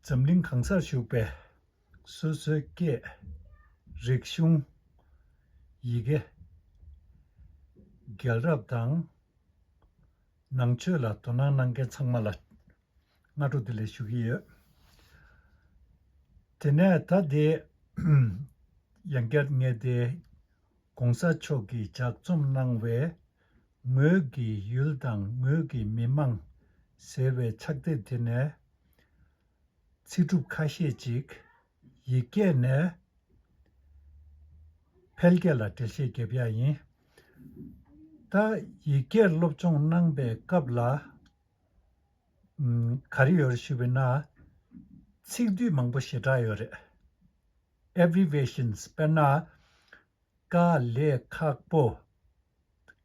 འཛམ་གླིང་གང་སར་བཞུགས་པའི་སོ་སོའི་སྐད། རིག་གཞུང། ཡི་གེ། རྒྱལ་རབས་དང། ནང་ཆོས་ལ་དོ་སྣང་གནང་མཁན་ཚང་མ་ལ་སྔ་དྲོ་དེ་ལས་ཞུ་གི་ཡོད། དེ་ནས་ད་དེ་ཡང་བསྐྱར་ངས་དེ ྋགོང་ས་མཆོག་གིས་ལྗགས་རྩོམ་གནང་བའི་ངོས་ཀྱི་ཡུལ་དང་ངོས་ཀྱི་མི་དམངས་ཟེར་བའི་ཕྱག་དེབ་དེ་ནས་ཚིག་གྲུབ་ཁ་ཤས་ཅིག་ཡིག་སྐད་ནས་ཕལ་སྐད་ལ་འགྲེལ་བཤད་བརྒྱབ་ཡ་ཡིན། ད་ཡིག་སྐད་སློབ་སྦྱོང་གནང་པའི་སྐབས་ལ་ག་རེ་ཡོད་རེད་ཞུས་པས་ན། ཚིག་སྡུད་མང་པོ་ཞེ་དྲག་ཡོད་རེད། Abbreviations དཔེར་ན། དཀའ་ལས་ཁག་པོ།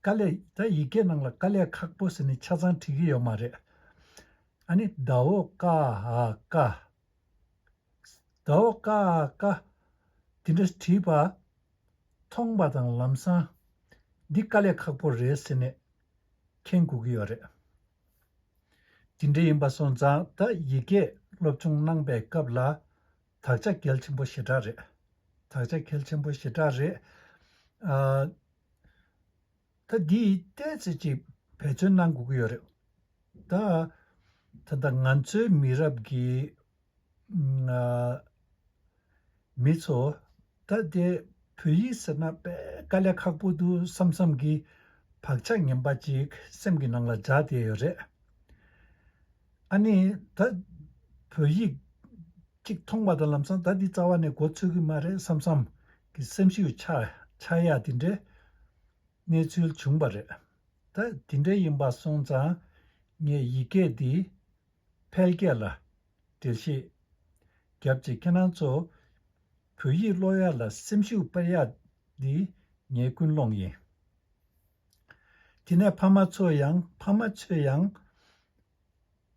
དཀའ་ལས། ད་ཡི་གེ་ནང་ལ་དཀའ་ལས་ཁག་པོ་ཟེར་ནས་ཆ་ཚང་བྲིས་ཀྱི་ཡོད་མ་རེད། ཨ་ནི་ད་འོ་ཀ་ཧ་ཀ། ད་འོ་ཀ་ཧ་ཀ། དེ་འདྲ་བྲིས་པ། མཐོང་པ་དང་ལམ་སང། འདི་དཀའ་ལས་ཁག་པོ་རེད་ཟེར་ནས། མཁྱེན་དགོས་ཀྱི་ཡོད་རེད། དེ་འདྲ་ཡིན་པ་སོང་ཙང་ད་ཡི་གེ་སློབ་སྦྱོང་གནང་པའི་སྐབས་ལ། དག་ཆ་གལ་ཆེན་པོ་ཞེ་དྲག་རེད། དག་ཆ་གལ་ཆེན་པོ་ཞེ་དྲག་རེད། ད་འདི་བལྟས་ཚེ་ཅིག་བེད་སྤྱོད་གནང་དགོས་ཀྱི་ཡོད་རེད། ད་ད་ལྟ་ང་ཚོའི་མི་རབས་ཀྱི་མི་ཚོ་ད་ལྟའི་བོད་ཡིག་ཟེར་ན་དཔེ་དཀའ་ལས་ཁག་པོ་འདུག་བསམ་བསམ་གྱིས་བག་ཆགས་ངན་པ་ཅིག་སེམས་ཀྱི་ནང་ལ་འཇགས་བསྡད་ཡོད་རེད། ཨ་ནེ། ད། བོད་ཡིག། ཅིག་མཐོང་པ་དང་ལམ་སང་ད་འདི་རྩ་བ་ནས་གོ་ཚོད་ཀྱི་མ་རེད་བསམ་བསམ། གི་སེམས་ཤུགས་ཆག་ཡ་དེ་འདྲའི། གནས་ཚུལ་བྱུང་པ་རེད། ད། དེ་འདྲའི་ཡིན་པ་སོང་ཙང། ངས་ཡིག་སྐད་འདི། ཕལ་སྐད་ལ། འགྲེལ་བཤད། རྒྱབ་རྗེས་ཁྱེད་རང་ཚོ། བོད་ཡིག་ཀློག་ཡ་ལ་སེམས་ཤུགས་སྤེལ་ཡ་འདི། ངའི་ཀུན་སློང་ཡིན། དེ་ནས་ཕ་མ་ཚོ་ཡང་ཕ་མ་ཚོས་ཡང།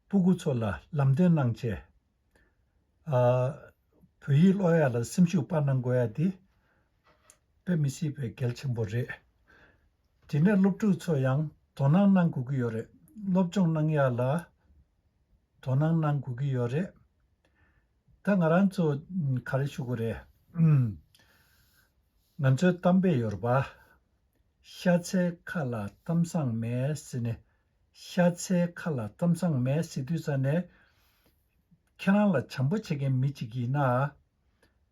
སྤུ་གུ་ཚོ་ལ་ལམ་སྟོན་གནང་ཆེད། ཨ། བོད་ཡིག་ཀློག་ཡ་ལ་སེམས་ཤུགས་སྤར་གནང་དགོས་ཡ་འདི། དཔེ་མི་སྲིད་པའི་གལ་ཆེན་པོ་རེད། དེ་ནས་སློབ་ཕྲུག་ཚོ་ཡང་དོ་སྣང་གནང་དགོས་ཀྱི་ཡོད་རེད། སློབ་སྦྱོང་གནང་ཡ་ལ་དོ་སྣང་གནང་དགོས་ཀྱི་ཡོད་རེད། ད་ང་རང་ཚོ་ག་རེ་ཞུ་དགོས་རེད། ང་ཚོའི་གཏམ་དཔེ་ཡོད་རེད་པ། ཤ་ཚའི་ཁ་ལ་གཏམ་བཟང་མེད་ཟེར་ནས། ཤ་ཚའི་ཁ་ལ་གཏམ་བཟང་མེད་ཟེར་དུས་ས་ནས། ཁྱེད་རང་ལ་བྱམས་པོ་བྱེད་མཁན་མི་ཅིག་ཡིན་ན།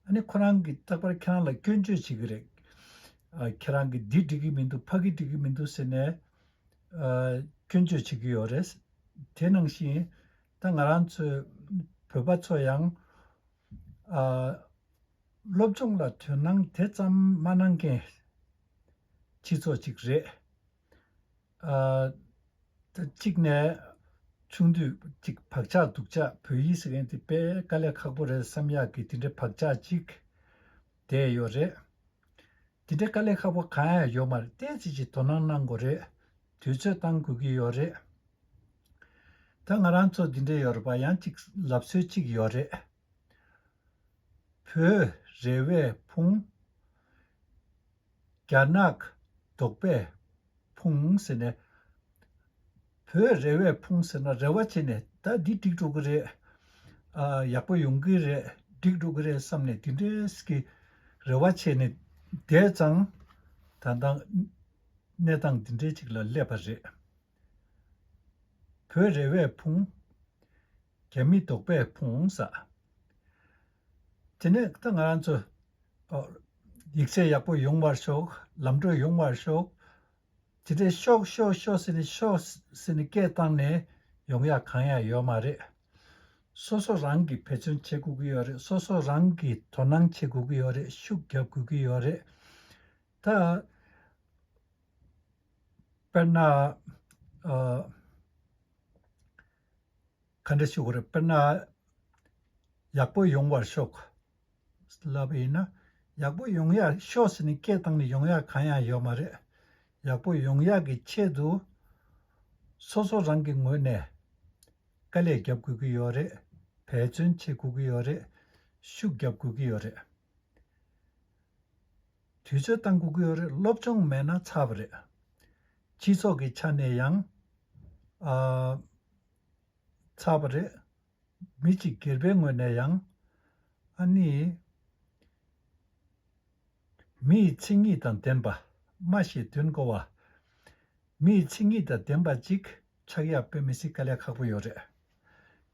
ཨ་ནི་ཁོ་རང་གིས་རྟག་པར་ཁྱེད་རང་ལ་སྐྱོན་བརྗོད་བྱེད་ཀྱི་རེད། ཁྱེད་རང་གིས་འདི་འགྲིག་གི་མི་འདུག་ཕ་གི་འགྲིག་གི་མི་འདུག་ཟེར་ནས། སྐྱོན་བརྗོད་བྱེད་ཀྱི་ཡོད་རེད། དེ་ནང་བཞིན་ད་ང་རང་ཚོའི་བོད་པ་ཚོ་ཡང། སློབ་སྦྱོང་ལ་དོན་སྣང་དེ་ཙམ་མ་གནང་མཁན་སྤྱི་ཚོགས་གཅིག་རེད། གཅིག་ནས་ཆུང་དུས་གཅིག་བག་ཆགས་སྡུག་ཆགས་བོད་ཡིག་ཟེར་མཁན་དེ་དཔེ་དཀའ་ལས་ཁག་པོ་རེད་བསམ་ཡག་གི་དེ་འདྲའི་བག་ཆགས་གཅིག་དེ་ཡོད་རེད། དེ་འདྲའི་དཀའ་ལས་ཁག་པོ་གང་ཡང་ཡོད་མ་རེད་བརྟན་བྱེད་ཀྱི་དོ་སྣང་གནང་དགོས་རེད། དུས་ཚོད་བཏང་དགོས་ཀྱི་ཡོད་རེད། ད་ང་རང་ཚོ་འདི་འདྲའི་ཡོད་རེད་པ་ཡང་ཅིག་ལབ་སྲོལ་ཅིག་ཡོད་རེད། བོད། རེ་བའི་ཕུང། རྒྱ་ནག། རྡོག་པས་ཕུང་ཟེར་ནས། བོད་རེ་བས་ཕུང་ཟེར་ན་རེ་བ་བྱས་ནས་ད་འདི་འགྲིག་འགྲོ་གི་རེད། ཡག་པོ་ཡོང་གི་རེད་འགྲིག་འགྲོ་གི་རེད་བསམ་ནས་དེ་འདྲས་ཀྱི་རེ་བ་བྱས་ནས་བསྡད་ཙང་ད་ལྟ་གནས་སྟངས་འདི་འདྲས་ཅིག་ལ་སླེབས་པ་རེད། བོད་རེ་བས་ཕུང། རྒྱ་མི་དོག་པས་ཕུང་ཟ། དེ་ནས་ད་ང་རང་ཚོ། ཡིག་ཚད་ཡག་པོ་ཡོང་བར་ཤོག་ལམ་བགྲོད་ཡོང་བར་ཤོག། དེ་འདྲའི་ཤོག་ཤོག་ཤོག་ཟེར་ནས་ཤོག་ཟེར་ནས་སྐད་བཏང་ནས་ཡོང་ཡ་གང་ཡང་ཡོད་མ་རེད། སོ་སོ་རང་གིས་འབད་བརྩོན་བྱེད་དགོས་ཀྱི་ཡོད་རེད་སོ་སོ་རང་གིས་དོ་སྣང་བྱེད་དགོས་ཀྱི་ཡོད་རེད་ཤུགས་རྒྱབ་དགོས་ཀྱི་ཡོད་རེད། ད། དཔེར་ན། ག་འདྲ་ཞིག་རེད་དཔེར་ན། ཡག་པོ་ཡོང་བར་ཤོག། ལབ་ཨེ་ཡིན་ན། ཡག་པོ་ཡོང་ཡག་ཤོག་ཟེར་ནས་སྐད་བཏང་ནས་ཡོང་ཡག་གང་ཡང་ཡོད་མ་རེད། ཡག་པོ་ཡོང་ཡག་གི་ཆེད་དུ། སོ་སོ་རང་གི་ངོས་ནས། དཀའ་ལས་རྒྱབ་དགོས་ཀྱི་ཡོད་རེད། འབད་བརྩོན་བྱེད་དགོས་ཀྱི་ཡོད་རེད། ཤུགས་རྒྱབ་དགོས་ཀྱི་ཡོད་རེད། དུས་ཚོད་བཏང་གི་ཡོད་རེད་སློབ་སྦྱོང་མེད་ན་ཚར་བ་རེད། སྤྱི་ཚོགས་ཀྱི་ཆ་ནས་ཡང། ཚར་བ་རེད། མི་གཅིག་སྒེར་པའི་ངོས་ནས་ཡང། ཨ་ནི། མི་ཡི་ཚིག་ཉིད་དང་ལྡན་པ། སྨྲ་ཤེས་དོན་གོ་བ། མི་ཡི་ཚིག་ཉིད་དང་ལྡན་པ་ཅིག་ཆགས་ཡག་པོ་མི་སྲིད་དཀའ་ལས་ཁག་པོ་ཡོད་རེད།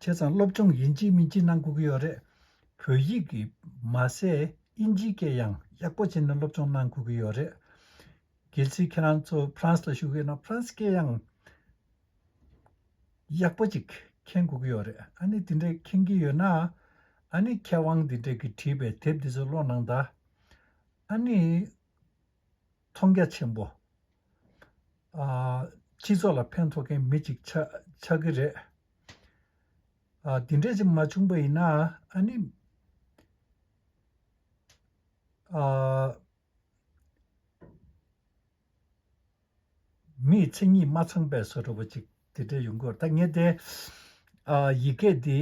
ཁྱེད་ཚང་སློབ་སྦྱོང་ཡིན་གཅིག་མིན་གཅིག་གནང་དགོས་ཀྱི་ཡོད་རེད། བོད་ཡིག་གི་མ་ཟད་དབྱིན་ཇིའི་སྐད་ཡང་ཡག་པོ་བྱས་ནས་སློབ་སྦྱོང་གནང་དགོས་ཀྱི་ཡོད་རེད། གལ་སྲིད་ཁྱེད་རང་ཚོ་ཕ་རན་སི་ལ་བཞུགས་ཡོད་ན་ཕ་རན་སི་སྐད་ཡང་ཡག་པོ་ཅིག་མཁྱེན་དགོས་ཀྱི་ཡོད་རེད། ཨ་ནི་དེ་འདྲའི་མཁྱེན་གྱི་ཡོད་ན། ཨ་ནི་མཁས་དབང་དེ་འདྲས་ཀྱིས་བྲིས་པའི་དེབ་འདི་ཚོ་ཀློག་གནང་ད། ཨ་ནི། མཐོང་རྒྱ་ཆེན་པོ། སྤྱི་ཚོགས་ལ་ཕན་ཐོགས་མཁན་མི་གཅིག་ཆགས་ཀྱི་རེད། འདི་འདྲས་ཅིག་མ་བྱུང་པ་ཡིན་ན་ཨ་ནི། མིའི་མཚན་ཉིད་མ་ཚང་པས་བཟོ་འགྲོ་བ་ཅིག་དེ་འདྲས་ཡོང་གི་རེད་ད་ངས་དེ། ཡི་གེ་འདི་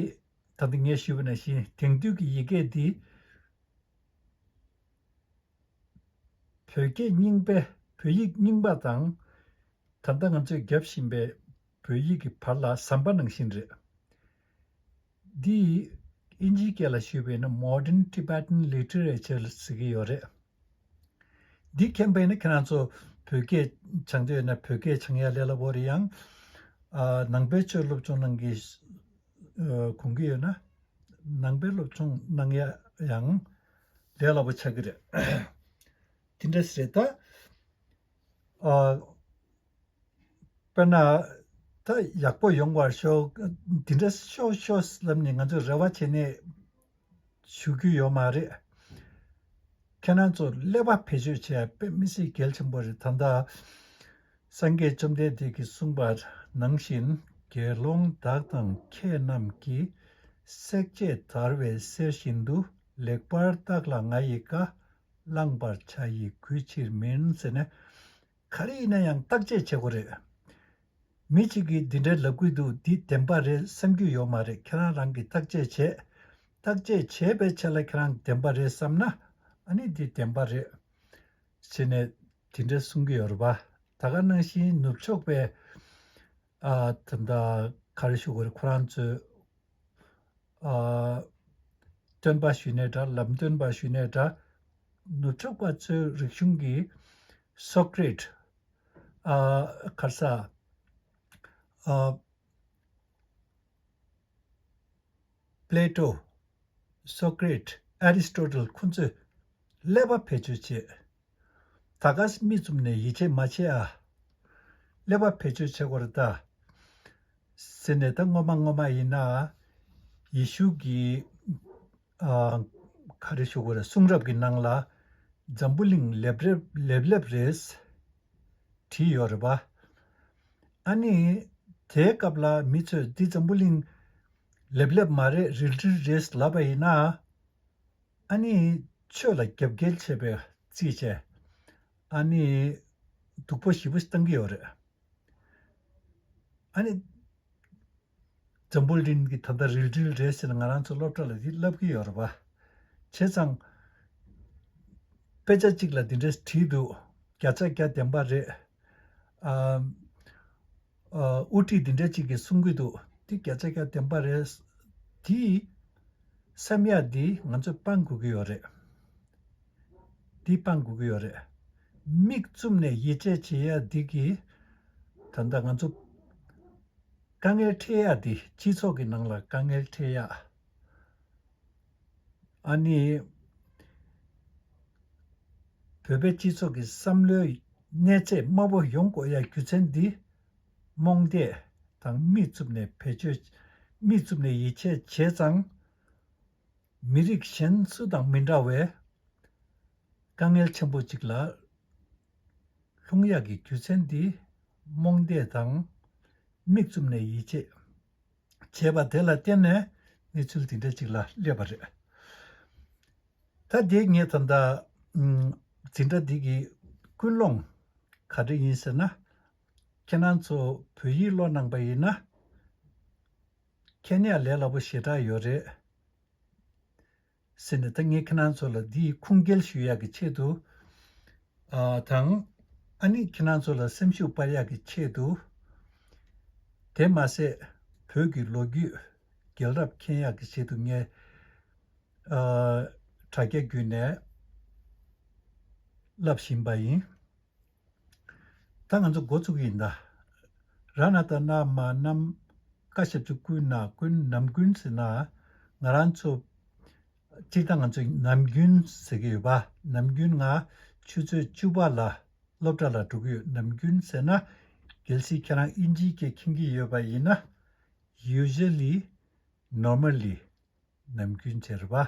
ད་ལྟ་ངས་ཞུས་པ་ནང་བཞིན་དེང་དུས་ཀྱི་ཡི་གེ་འདི། བོད་སྐད་རྙིང་པས་བོད་ཡིག་རྙིང་པ་དང། ད་ལྟ་ང་ཚོས་རྒྱབ་བཞིན་པའི་བོད་ཡིག་གི་བར་ལ་ཟམ་པ་ནང་བཞིན་རེད། འདི་ཡིས་ཨིན་ཇིའི་སྐད་ལ་ཞུས་པས་ན Modern Tibetan Literature ལ་ཟེར་གྱི་ཡོད་རེད། འདི་མཁྱེན་པས་ན་ཁྱེད་རང་ཚོ་བོད་སྐད་སྦྱང་འདོད་ཡོད་ན་བོད་སྐད་སྦྱང་ཡ་ལས་སླ་པོ་རེད་ཡང། ནང་པའི་ཆོས་སློབ་སྦྱོང་གནང་གི་གོང་གི་ཡོད་ན་ནང་པའི་སློབ་སྦྱོང་གནང་ཡ་ཡང། ལས་སླ་པོ་ཆགས་ཀྱི་རེད། དེ་འདྲ་ཞིག་རེད་ད། དཔེར་ན། ད་ཡག་པོ་ཡོང་བར་ཤོག་དེ་འདྲ་ཤོག་ཤོག་ལབ་ནས་ང་ཚོས་རེ་བ་བྱས་ནས་བཞུགས་རྒྱུ་ཡོད་མ་རེད། ཁྱེད་རང་ཚོར་ཀླད་པ་བེད་སྤྱོད་བྱས་པས་མི་སེར་གལ་ཆེན་པོ་རེད་དམ། ད་སངས་རྒྱས་བཅོམ་ལྡན་འདས་ཀྱིས་གསུངས་པ་ནང་བཞིན་དགེ་སློང་དག་དང་ཁྱེད་རྣམས་ཀྱིས་བསྲེག་བཅད་དར་བའི་གསེར་བཞིན་དུ་ལེགས་པར་བརྟགས་ལ་ང་ཡི་བཀའ་བླངས་པར་བྱ་ཡི་གུས་ཕྱིར་མིན་ཟེར་ནས། ག་རེ་ཡིན་ན་ཡང་བརྟག་དཔྱད་བྱེད་དགོས་རེད། མི་གཅིག་གིས་འདི་འདྲའི་ལབ་གུས་འདུག་འདི་བདེན་པ་རེད་བསམ་རྒྱུ་ཡོད་མ་རེད་ཁྱེད་རང་རང་གིས་བརྟག་དཔྱད་བྱེད། བརྟག་དཔྱད་བྱས་པའི་ཆ་ལ་ཁྱེད་རང་བདེན་པ་རེད་བསམ་ན་ཨ་ནི་འདི་བདེན་པ་རེད། ཟེར་ནས་དེ་འདྲ་གསུང་གི་ཡོད་རེད་པ། ད་ག་གནང་བཞིན་ནུབ་ཕྱོགས་པའི། ཨ། དེ་འདྲ་ག་རེ་ཞུ་གི་རེད་ཁོ་རང་ཚོས། ཨ། སྟོན་པ་ཞུས་ནས་འདྲ་ལམ་སྟོན་པ་ཞུས་ནས་འདྲ། ནུབ་ཕྱོགས་པ་ཚོའི་རིག་གཞུང་གི། Socrate། ཨ། གར་ས། ཨ། Plato། Socrate། Aristotle། ཁོ་ཚོས། ཀླད་པ་བེད་སྤྱོད་བྱེད། ད་ག་ཟེ་མིག་བཙུམ་ནས་ཡིད་ཆེས་མ་བྱེད་ཨ། ཀླད་པ་བེད་སྤྱོད་བྱེད་དགོས་རེད་ད། ཟེར་ནས་ད་སྔོན་མ་སྔོན་མ་ཡིན་ན། ཡེ་ཤུ་གིས། ག་རེ་ཞུ་དགོས་རེད་གསུང་རབ་ཀྱི་ནང་ལ། འཛམ་བུ་གླིང་ལེབ་ལེབ་ལེབ་རེད། བྲིས་ཡོད་རེད་པ། ཨ་ནི། དེའི་སྐབས་ལ་མི་ཚོས་འདི་འཛམ་བུ་གླིང། ལེབ་ལེབ་མ་རེད་རིལ་རིལ་རེད་ལབ་པ་ཡིན་ན། ཨ་ནེའི་ཆོས་ལ་རྒྱབ་འགལ་བྱས་པའི་རྩིས་བྱས། ཨ་ནེ། སྡུག་པོ་ཞེ་པོ་ཞིག་བཏང་གི་ཡོད་རེད། ཨ་ནེ། འཛམ་བུ་གླིང་གི་ད་ལྟ་རིལ་དྲིལ་རེད་ཟེར་ན་ང་རང་ཚོ་སློབ་གྲྭ་ལ་དེ་བསླབ་ཀྱི་ཡོད་རེད་པ། བྱས་ཙང། དཔེ་ཆ་གཅིག་ལ་དེ་འདྲ་བྲིས་འདུག་བརྒྱ་ཆ་བརྒྱ་བདེན་པ་རེད། ཨ། དབུ་ཁྲིད་འདི་འདྲ་ཅིག་གིས་གསུང་གི་འདུག་འདི་བརྒྱ་ཆ་བརྒྱ་བདེན་པ་རེད། འདིས། བསམ་ཡག་འདིས་ང་ཚོས་སྤང་དགོས་ཀྱི་ཡོད་རེད། འདིས་སྤང་དགོས་ཀྱི་ཡོད་རེད། མིག་བཙུམ་ནས་ཡིད་ཆེས་བྱེད་ཡག་འདི་གིས། ད་ལྟ་ང་ཚོ། དཀའ་ངལ་འཕྲད་ཡག་འདིས་སྤྱི་ཚོགས་ཀྱི་ནང་ལ་དཀའ་ངལ་འཕྲད་ཡག། ཨ་ནི། བོད་པའི་སྤྱི་ཚོགས་ཀྱི་བསམ་བློའི་གནས་ཚད་དམའ་བོ་ཡོང་དགོས་ཡ་རྒྱུ་མཚན་འདི། རྨོངས་དད་དང་རྨིས་རྩུབ་ནས་བེད་སྤྱོད། རྨིས་རྩུབ་ནས་ཡིད་ཆད་བྱས་ཙང། མི་རིགས་གཞན་སུ་དང་མི་འདྲ་བའི། དཀའ་ངལ་ཆེན་པོ་ཅིག་ལ། ལྷུང་ཡ་གི་རྒྱུ་མཚན་འདི། རྨོངས་དད་དང། རྨིས་རྩུབ་ནས་ཡིད་ཆད། བྱས་པ་དེ་ལ་བརྟེན་ནས་གནས་ཚུལ་དེ་འདྲ་ཅིག་ལ་སླེབས་པ་རེད། ད་ལྟའི་ངའི་ད་ལྟ་འཛིན་གྲྭ་འདི་གི་ཀུན་སློང་ག་འདྲ་ཡིན་ཟེར་ན། ཁྱེད་རང་ཚོ་བོད་ཡིག་ཀློག་གནང་པ་ཡིན་ན། མཁྱེན་ཡག་ལས་སླ་པོ་ཞེ་དྲག་ཡོད་རེད། ཟེར་ནས་ད་ངས་ཁྱེད་རང་ཚོ་ལ་འདི་ཡི་ཁུངས་སྐྱེལ་ཞུ་ཡག་གི་ཆེད་དུ། དང། ཨ་ནི་ཁྱེད་རང་ཚོ་ལ་སེམས་ཤུགས་སྤར་ཡག་གི་ཆེད་དུ། དེ་མ་ཟད། བོད་ཀྱི་ལོ་རྒྱུས། རྒྱལ་རབས་མཁྱེན་ཡག་གི་ཆེད་དུ་ངས། དྲ་རྒྱ་བརྒྱུད་ནས། ལབ་བཞིན་པ་ཡིན། ད་ང་ཚོ་འགོ་བཙུགས་ཀྱི་ཡིན་ད། ར་ན་ད་ན་མ་ནམ་མཁའ་ཞབས་ཀྱི་ཀུན་ན་ཀུན་ནམ་ཀུན་ཟེར་ན། ང་རང་ཚོ། སྤྱིར་བཏང་ང་ཚོ་ནམ་རྒྱུན་ཟེར་གྱི་ཡོད་པ་ནམ་རྒྱུན་ང་ཆུ་ཚོད་བཅུ་པ་ལ་སློབ་གྲྭ་ལ་འགྲོ་གི་ཡོད་ནམ་རྒྱུན་ཟེར་ན། གལ་སྲིད་ཁྱེད་རང་ཨིན་ཇིའི་སྐད་མཁྱེན་གྱི་ཡོད་པ་ཡིན་ན། Usually Normally ནམ་རྒྱུན་ཟེར་བ།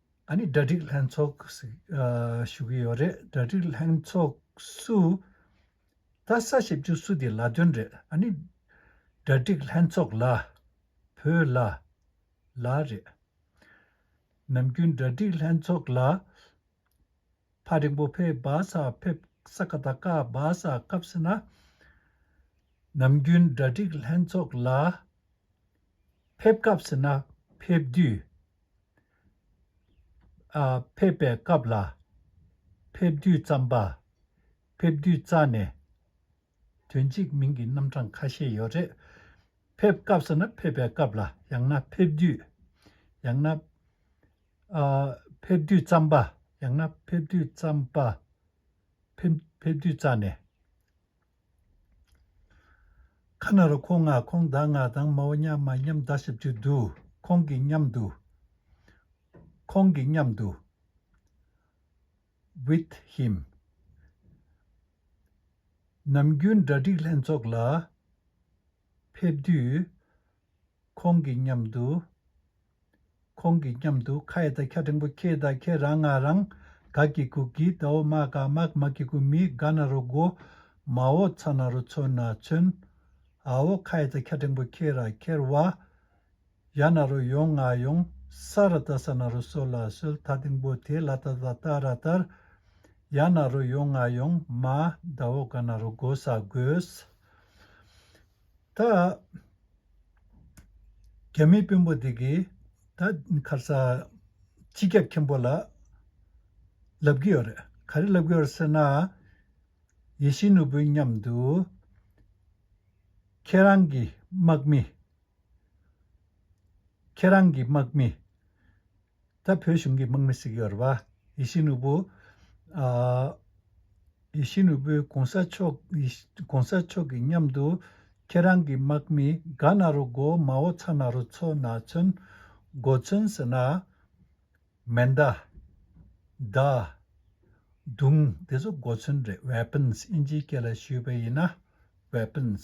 ཨ་ནི་གྲ་སྒྲིག་ལྷན་ཚོགས་ཞུ་གི་ཡོད་རེད་གྲ་སྒྲིག་ལྷན་ཚོགས་སུ་ད་ས་བྱེད་རྒྱུ་སུ་དེ་ལགས་དོན་རེད་ཨ་ནི་གྲ་སྒྲིག་ལྷན་ཚོགས་ལ་བོད་ལ་ལ་རེད་ནམ་རྒྱུན་གྲ་སྒྲིག་ལྷན་ཚོགས་ལ་ཕ་རིང་པོ་ཕས་སྦ་ས་ཕེབས་ས་ཁ་ད་ཀ་སྦ་ས་སྐབས་ཟེར་ན། ནམ་རྒྱུན་གྲ་སྒྲིག་ལྷན་ཚོགས་ལ་ཕེབས་སྐབས་ཟེར་ན་ཕེབས་དུས། ཨ། ཕེབས་པའི་སྐབས་ལ་ཕེབས་དུས་རྩམ་པ་ཕེབས་དུས་རྩ་ནས་དོན་གཅིག་མིང་གི་རྣམ་གྲངས་ཁ་ཤས་ཡོད་རེད། ཕེབས་སྐབས་ཟེར་ན་ཕེབས་པའི་སྐབས་ལ་ཡང་ན་ཕེབས་དུས་ཡང་ན། ཕེབས་དུས་རྩམ་པ། ཡང་ན་ཕེབས་དུས་རྩམ་པ། ཕེབས་དུས་རྩ་ནས། ཁ་ན་རོ་ཁོང་ང་ཁོང་བདག་ང་དང་མའོ་མཉམ་མ་མཉམ་བདག་ཞིབ་ཀྱི་དུ། ཁོང་གི་མཉམ་དུ། ཁོང་གི་མཉམ་དུ། with him། ནམ་རྒྱུན་གྲ་སྒྲིག་ལྷན་ཚོགས་ལ་ཕེབས་དུས། ཁོང་གི་མཉམ་དུ། ཁོང་གི་མཉམ་དུ་ཁ་ཡེ་ད་ཁྱ་ཕྲེང་པོ་ཁྱེད་དང་ཁྱེད་རང་ང་རང་ག་གི་གུ་གི་ད་འོ་མ་ག་མ་གི་མ་གི་གུ་མི་ག་ན་རུ་གོ། མ་འོ་ཚ་ན་རུ་ཚོན་ན་ཚོན། ཨ་འོ་ཁ་ཡེ་ད་ཁྱ་ཕྲེང་པོ་ཁྱེད་ར་ཁྱེར་བ། ཡ་ན་རུ་ཡོང་ང་ཡོང། ས་ར་ད་ས་ན་རུ་སོ་ལ་སོལ་ད་དིང་པོ་དེ་ལ་ད་ད་ད་ར་དར། ཡ་ན་རུ་ཡོང་ང་ཡོང་མ་ད་འོ་ག་ན་རུ་གོ་ས་གོས། ད། རྒྱ་མི་དཔོན་པོ་དེ་གིས་ད་མཁར་ས། སྤྱི་ཁྱབ་མཁན་པོ་ལ། ལབ་ཀྱི་ཡོད་རེད། ག་རེ་ལབ་ཀྱི་ཡོད་རེད་ཟེར་ན། ཡེ་ཤེས་ནོར་བུའི་མཉམ་དུ། ཁྱེད་རང་གི་དམག་མི། ཁྱེད་རང་གི་དམག་མི། ད་བོད་གཞུང་གི་དམག་མི་ཟིག་ཡོད་རེད་བ། ཡེ་ཤེས་ནོར་བུ། ཡེ་ཤེས་ནོར་བུ་གོང་ས་མཆོག་གོང་ས་མཆོག་གི་མཉམ་དུ། ཁྱེད་རང་གི་དམག་མི་དགའ་ན་རོ་མགོ་མ་བོ་ཚ་ན་རོ་ཚོ་ན་ཚོན། མགོ་ཚོན་ཟེར་ན། མེ་མདའ། མདའ། མདུང་དེ་ཚོ་མགོ་ཚོན་རེད weapons དབྱིན་ཇིའི་སྐད་ལ་ཞུས་པ་ཡིན་ན། weapons།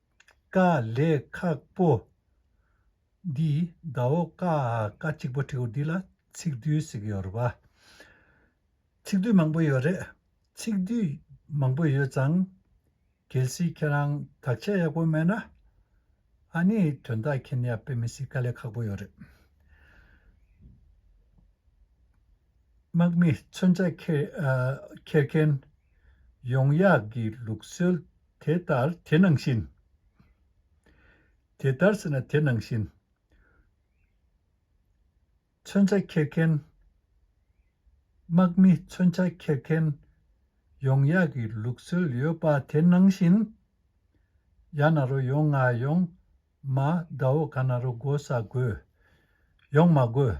དཀའ་ལས་ཁག་པོ། འདི་ཟླ་འོག་ཀ་ཀ་གཅིག་པོ་བྲིས་འོ་འདི་ལ་ཚིག་བསྡུས་ཟིག་ཡོད་རེད་པ། ཚིག་བསྡུས་མང་པོ་ཡོད་རེད། ཚིག་བསྡུས་མང་པོ་ཡོད་ཙང། གལ་སྲིད་ཁྱེད་རང་དག་ཆ་ཡག་པོ་མེད་ན། ཨ་ནི་དོན་དག་མཁྱེན་ཡག་དཔེ་མི་སྲིད་དཀའ་ལས་ཁག་པོ་ཡོད་རེད། དམག་མི་མཚོན་ཆ་འཁྱེར་མཁན། ཡོང་ཡག་གི་ལུགས་སྲོལ་དེ་ལྟར་དེ་ནང་བཞིན། དེ་ལྟར་ཟེར་ན་དེ་ནང་བཞིན། མཚོན་ཆ་འཁྱེར་མཁན། དམག་མི་མཚོན་ཆ་འཁྱེར་མཁན། ཡོང་ཡག་གི་ལུགས་སྲོལ་ཡོད་པ་དེ་ནང་བཞིན། ཡག་ན་རོ་ཡོང་ང་ཡོང། མ་དགའ་བོ་ག་ན་རོ་དགོ་ས་དགོས། ཡོང་མ་དགོས།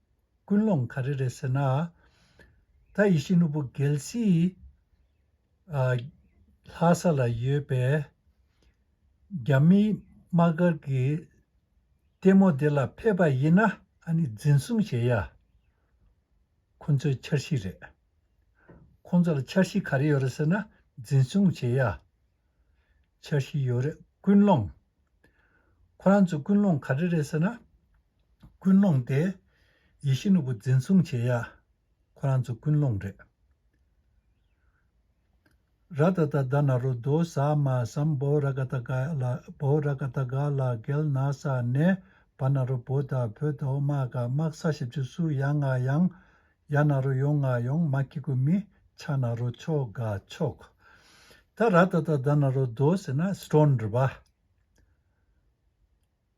ཀུན་སློང་ག་རེ་རེད་ཟེར་ན། ད་ཡེ་ཤེས་ནོར་བུ་གལ་སྲིད། ལྷ་ས་ལ་ཡོད་པའི་རྒྱ་མིའི་དམག་སྒར་གྱི་ལྟད་མོ་དེ་ལ་ཕེབས་པ་ཡིན་ན་ཨ་ནི་འཛིན་བཟུང་བྱེད་ཡ། ཁོང་ཚོའི་འཆར་གཞི་རེད། ཁོང་ཚོ་ལ་འཆར་གཞི་ག་རེ་ཡོད་རེད་ཟེར་ན་འཛིན་བཟུང་བྱེད་ཡ། འཆར་གཞི་ཡོད་རེད་ཀུན་སློང། ཁོ་རང་ཚོ་ཀུན་སློང་ག་རེ་རེད་ཟེར་ན། ཀུན་སློང་སྟེ། ཡེ་ཤེས་ནོར་བུ་འཛིན་བཟུང་བྱེད་ཡ། ཁོ་རང་ཚོ་ཀུན་སློང་རེད། ར་ད་ད་ད་ན་རོ་དོ་ཟ་མ་སམ་བོ་ར་ག་ད་ག་ལ་བོ་ར་ག་ད་ག་ལ་གལ་ན་ས་ནས་བ་ན་རོ་བོ་ད་བོ་དོ་མ་ག་དམག་ས་བཞི་བཅུ་སུ་ཡ་ང་ཡང་ཡ་ན་རོ་ཡོང་ང་ཡོང་མ་ཁི་གུ་མི་ཆ་ན་རོ་ཆོ་ག་ཆོ་ག་ད་ར་ད་ད་ད་ན་རོ་དོ་ཟེ་ན་སི་ཏྲོན་རི་བ།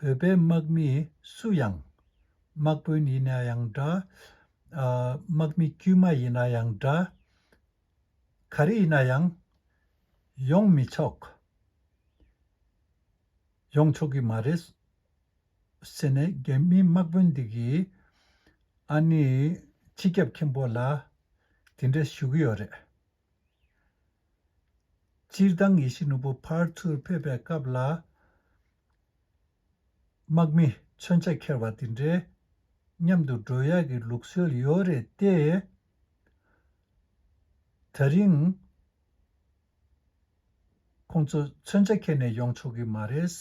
བོད་པའི་དམག་མི་སུ་ཡང། དམག་དཔོན་ཡིན་ན་ཡང་འདྲ། དམག་མི་དཀྱུས་མ་ཡིན་ན་ཡང་འདྲ། ག་རེ་ཡིན་ན་ཡང། ཡོང་མི་ཆོག། ཡོང་ཆོག་གི་མ་རེད། ཟེར་ནས་རྒྱ་མིའི་དམག་དཔོན་དེ་གིས། ཨ་ནི་སྤྱི་ཁྱབ་མཁན་པོ་ལ་དེ་འདྲ་ཞུ་གི་ཡོད་རེད། སྤྱིར་བཏང་ངེད་ཤི་ནུ་བོ་ཕར་ཚུར་ཕེབས་པའི་སྐབས་ལ། དམག་མི་མཚོན་ཆ་འཁྱེར་བ་དེ་འདྲའི་མཉམ་དུ་འགྲོ་ཡག་གི་ལུགས་སྲོལ་ཡོད་རེད་དེ། ད་རིང། ཁོང་ཚོ་མཚོན་ཆ་འཁྱེར་ནས་ཡོང་ཆོག་གི་མ་རེད།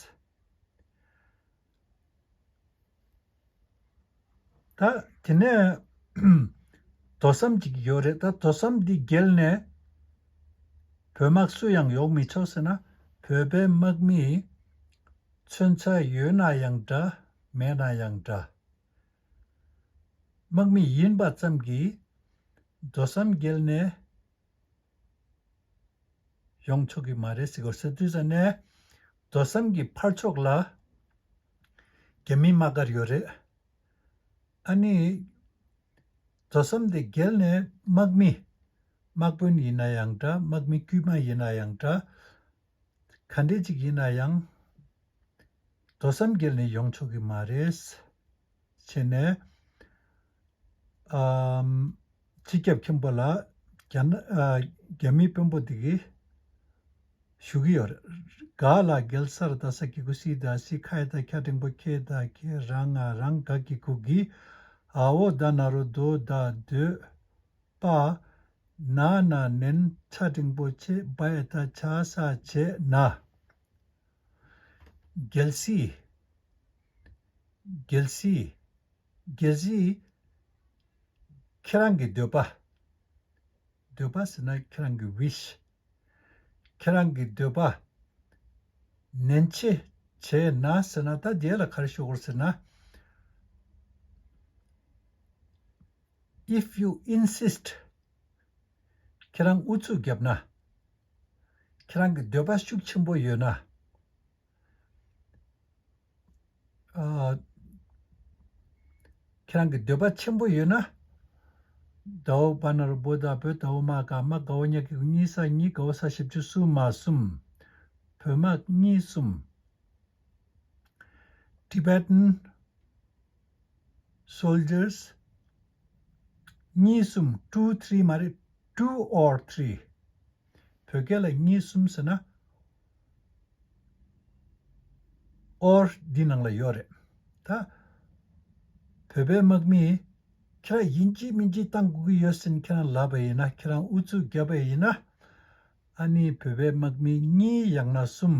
ད་དེ་ནས། དོ་བསམ་གྱི་ཡོད་རེད་ད་དོ་བསམ་དེ་བརྒལ་ནས། བོད་དམག་སུ་ཡང་ཡོང་མི་ཆོག་ཟེར་ན་བོད་པའི་དམག་མིས། མཚོན་ཆ་ཡོད་ན་ཡང་འདྲ་མེད་ན་ཡང་འདྲ། དམག་མི་ཡིན་པ་ཙམ་གྱིས། དོ་བསམ་བརྒལ་ནས། ཡོངས་ཆོག་གི་མ་རེད་ཟེར་དགོས་ཟེར་དུས་ས་ནས། རྡོ་ཟམ་གྱི་ཕར་ཕྱོགས་ལ། རྒྱ་མི་དམག་སྒར་ཡོད་རེད། ཨ་ནི། རྡོ་ཟམ་དེ་བརྒལ་ནས་དམག་མི། དམག་དཔོན་ཡིན་ན་ཡང་འདྲ་དམག་མི་དཀྱུས་མ་ཡིན་ན་ཡང་འདྲ། ག་འདྲས་ཅིག་ཡིན་ན་ཡང། རྡོ་ཟམ་བརྒལ་ནས་ཡོངས་ཆོག་གི་མ་རེད། བྱས་ནས། སྤྱི་ཁྱབ་མཁན་པོ་ལ་རྒྱ་མིའི་དཔོན་པོ་དེ་ཞུ་གི་ཡོད། ག་ལ་གེལ་སར་ད་ས་ཀི་གུ་སི་ད་སི་ཁ་ཡེ་ད་ཁྱ་ཀྲེང་པོ་ཁྱེད་ད་ཁྱེ་རང་ང་རང་ག་གི་གུ་གི་ཨ་བོ་ད་ན་རོ་དོ་ད་སྡོད་པ་ན་ན་ནན་ཁྱ་ཀྲེང་པོ་ཁྱེད་བ་ཡེ་ད་ཁྱ་ས་བྱེད་ན། རྒྱལ་སྲིད། རྒྱལ་སྲིད། རྒྱལ་སྲིད། ཁྱེད་རང་གི་འདོད་པ། འདོད་པ་ཟེར་ན་ཁྱེད་རང་གི wish། ཁྱེད་རང་གི་འདོད་པ། ནན་ཆེ་བྱས་ན་ཟེར་ན་ད་རྒྱལ་ལ་གར་ཤོར་ཟེར་ན། if you insist། ཁྱེད་རང་ཨུ་ཚུགས་བརྒྱབ་ན། ཁྱེད་རང་གི་འདོད་པ་ཤུགས་ཆེན་པོ་ཡོད་ན། ཁྱེད་རང་གི་འདོད་པ་ཆེན་པོ་ཡོད་ན། དྭོགས་པ་ནོར་བུ་དང་བོད་དྭོགས་མ་ག་མ་དགའ་བོ་གཉིས་ཀྱི་གཉིས་ས་གཉིས་དགའ་བོ་ས་བཞི་བཅུ་གསུམ་མ་གསུམ། བོད་མ་གཉིས་གསུམ། Tibetan Soldiers། གཉིས་གསུམ two three མ་རེད two or three བོད་སྐད་ལ་གཉིས་གསུམ་ཟེར་ན or འདི་ནང་ལ་ཡོད་རེད་ད། བོད་པའི་དམག་མིས་ཁྱེད་རང་དབྱིན་ཇི་མིན་ཇི་བཏང་དགོས་ཀྱི་ཡོད་ཟེར་ཁྱེད་རང་ལབ་པ་ཡིན་ན་ཁྱེད་རང་ཨུ་ཚུགས་བརྒྱབ་པ་ཡིན་ན་ཨ་ནི་བོད་པའི་དམག་མི་གཉིས་ཡང་ན་གསུམ།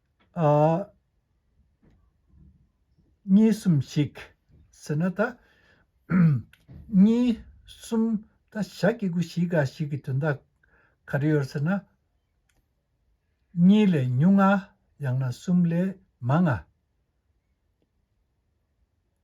གཉིས་གསུམ་ཞིག་ཟེར་ན་ད། གཉིས་གསུམ་ད་ཞག་སྐྱིད་དགུ་བཞི་འགའ་ཞིག་གི་དོན་དག་ག་རེ་ཡོད་ཟེར་ན། གཉིས་ལས་ཉུང་ང་ཡང་ན་གསུམ་ལས་མང་ང།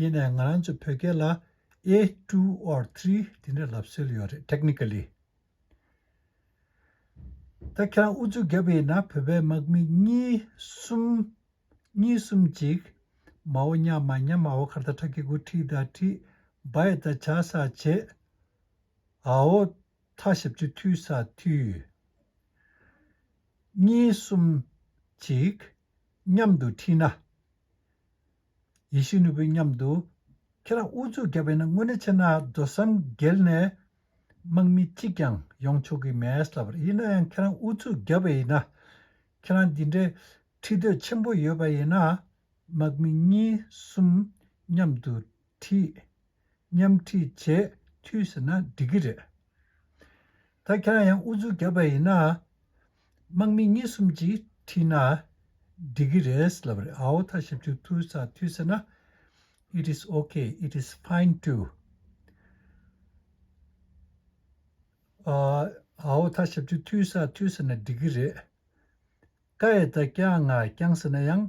ཡེ་ནས་ང་རང་ཚོ་བོད་སྐད་ལ A two or three དེ་འདྲ་ལབ་སྲོལ་ཡོད་རེད technically། ད་ཁྱེད་རང་ཨུ་ཚུགས་བརྒྱབ་ཡིན་ན་བོད་པའི་དམག་མི་གཉིས་གསུམ། གཉིས་གསུམ་གཅིག། མའོ་རྙ་མ་རྙ་མ་ཨོ་ཁར་ད་ཁྲ་ཁི་གུ་ཁྲི་ད་ཁྲི། བ་ཡི་ད་བྱ་ས་བྱེ། ཨའོ་ཐ་ཞབས་ཆུ་ཐུའི་ས་ཐུ། གཉིས་གསུམ་གཅིག། མཉམ་དུ་ཁྲིད་ན། ཡེ་ཤེས་ནོར་བུའི་མཉམ་དུ། ཁྱེད་རང་དབུ་གཙུག་རྒྱབ་པས་ན་དངོས་གནས་ཕྱི་ནང་རྡོ་ཟམ་བརྒལ་ནས། དམག་མི་གཅིག་ཀྱང་ཡོང་ཆོག་གི་མེད་ལབ་རེད་ཡིན་ན་ཡང་ཁྱེད་རང་དབུ་གཙུག་རྒྱབ་པས་ཡིན་ན། ཁྱེད་རང་འདི་འདྲའི་ཁྲིད་འདོད་ཆེན་པོ་ཡོད་པ་ཡིན་ན། དམག་མི་གཉིས་གསུམ་མཉམ་དུ་ཁྲིད། མཉམ་ཁྲིད་བྱས་འཐུས་ཟེར་ན་འགྲིག་གི་རེད། ད་ཁྱེད་རང་ཡང་ཨུ་ཚུགས་རྒྱབ་པ་ཡིན་ན། དམག་མི་གཉིས་གསུམ་གྱིས་ཁྲིད་ན་འགྲིག་གི་རེད་ལབ་རེད་ཨའོ་མཐའ་ཞབས་ཞུ་འཐུས་ས་འཐུས་ཟེར་ན it is ok it is fine too ཨའོ་མཐའ་ཞབས་ཞུ་འཐུས་ས་འཐུས་ཟེར་ན་འགྲིག་གི་རེད། ཀ་ཡེ་ད་ཀྱ་ང་རྐྱང་ཟེར་ན་ཡང།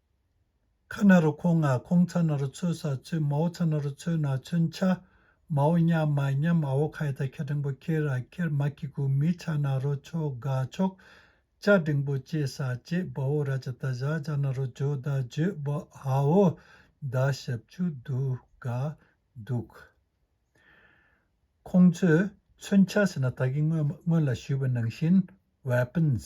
ཁ་ན་རུ་ཁོང་ང་ཁོང་ཚ་ན་རུ་ཚོད་ས་ཚོད་མའོ་ཚ་ན་རུ་ཚོད་ན་ཚོན་ཆ་མའོ་སྙམ་མ་སྙམ་ཨ་བོ་ཁ་ཡི་ད་ཁྱི་འབྲིང་པོ་ཁྱེར་ར་ཁྱེར་མ་ཁྱི་གུ་མི་ཆ་ན་རུ་ཆོ་ག་ཆོག་ཅ་འབྲིང་པོ་ཅེས་ས་ཅེས་སྦ་བོ་ར་ཅ་ད་བཞག་བཞག་ན་རུ་བྱོ་ད་བྱོས་སྦ་ཨ་བོ་ད་ཞབས་ཆུ་འདུག་ག་འདུག་ག། ཁོང་ཚོས་ཚོན་ཆ་ཟེར་ན་ད་གི་སྔོན་ལ་ཞུས་པ་ནང་བཞིན Weapons།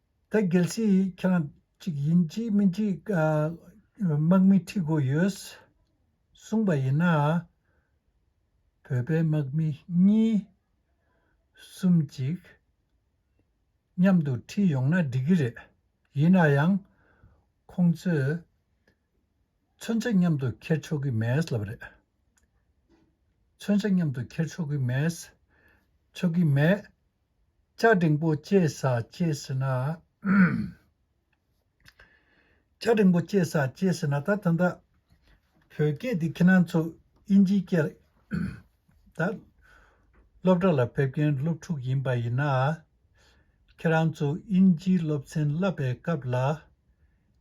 ད་གལ་སྲིད་ཁྱེད་རང་གཅིག་ཡིན་གཅིག་མིན་གཅིག་དམག་མི་ཁྲིད་དགོས་ཡོད་གསུངས་པ་ཡིན་ན། བོད་པའི་དམག་མི་གཉིས་གསུམ་གཅིག་མཉམ་དུ་ཁྲིད་ཡོང་ན་འགྲིག་གི་རེད། ཡིན་ན་ཡང་ཁོང་ཚོས་མཚོན་ཆ་མཉམ་དུ་འཁྱེར་ཆོག་གི་མེད་ལབ་རེད། མཚོན་ཆ་མཉམ་དུ་འཁྱེར་ཆོག་གི་མེད། ཆོག་གི་མེད། ལྕགས་འབྲིང་པོ་སྐྱེས་ས་སྐྱེས་ཟེར་ན། ལྕགས་འབྲིང་པོ་སྐྱེས་ས་སྐྱེས་ཟེར་ན་ད་ད་ད། བོད་སྐད་འདི་ཁྱེད་རང་ཚོ་དབྱིན་ཇིའི་སྐད། ད། སློབ་གྲྭ་ལ་ཕེབས་མཁན་སློབ་ཕྲུག་ཡིན་པ་ཡིན་ན། ཁྱེད་རང་ཚོ་དབྱིན་ཇིའི་སློབ་ཚན་བསླབ་པའི་སྐབས་ལ།